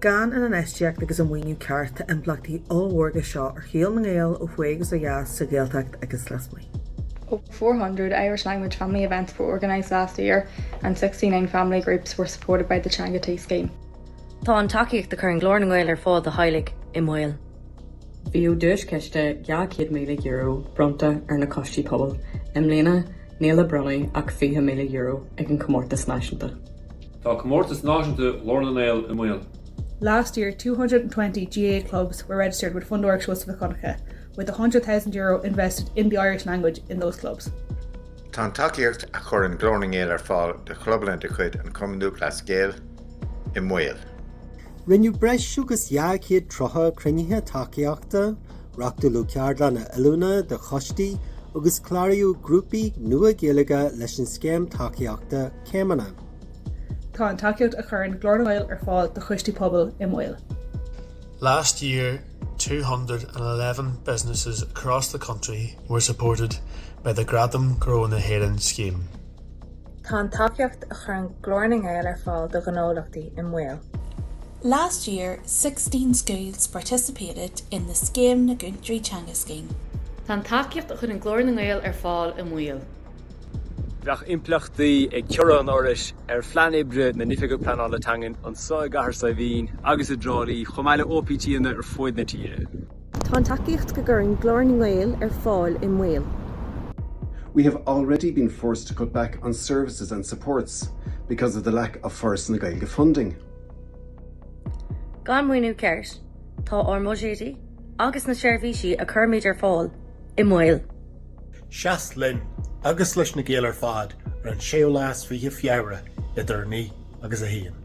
Gan an infheistíocht agus an maoiniú ceart, tá impleachtaí ollmhóra aige seo ar shaol na nGael ó thuaidh agus ó dheas, sa Ghaeltacht agus lasmuigh. Over 400 Irish language family events were organised last year and 69 family groups were supported by the Teanga Tí scheme. Tá an tacaíocht a chuireann Glór na nGael ar fáil do theaghlaigh i mbaol. Bhíodh duaischiste €200,000 bronnta ar na coistí pobail, i mbliana níl le bronnadh ach €20,000 ag an chomórtas náisiúnta. Tá Comórtas Náisiúnta Ghlór na nGael i mbaol. Last year 220 GAA clubs were registered with Fundúireacht Sheosaimh Mhic Dhonncha with €100,000 invested in the Irish language in those clubs. Tá an tacaíocht a chuireann Glór na nGael ar fáil do chlubanna de chuid an Chumainn Lúthchleas Gael i mbaol. Rinneadh breis agus 230 cruinnithe tacaíochta, reáchtáladh ceardlanna oiliúna do choistí agus cláraíodh grúpaí nua Gaeilge leis an scéim tacaíochta Céimeanna. Tá an tacaíocht a chuireann Glór na nGael ar fáil do choistí pobail i mbaol. Last year 211 businesses across the country were supported by the Gradaim Ghnó na hÉireann scheme. Tá an tacaíocht a chuireann Glór na nGael ar fáil do ghnólachtaí i mbaol. Last year sixteen schools participated in the Scéim na gCúntóirí Teanga scheme. Tá an tacaíocht a chuireann Glór na nGael ar fáil i mbaol. Bheadh impleachtaí ag ciorrú an Fhorais ar phlean oibre na hOifige Pleanála Teangan anseo i gCathair Saidhbhín agus i dTrá Lí, chomh maith le OPTanna ar fuaid na tíre. Tá an tacaíocht go gcuireann Glór na nGael ar fáil i mbaol. We have already been forced to cut back on services and supports because of the lack of Foras na Gaeilge funding. Gan maoiniú ceart, tá ár mbuiséidí agus na seirbhísí a chuirimid ar fáil i mbaol. Seas linn agus leis na Gaeil ar fad ar an séú lá is fiche Feabhra idir 9 agus 1.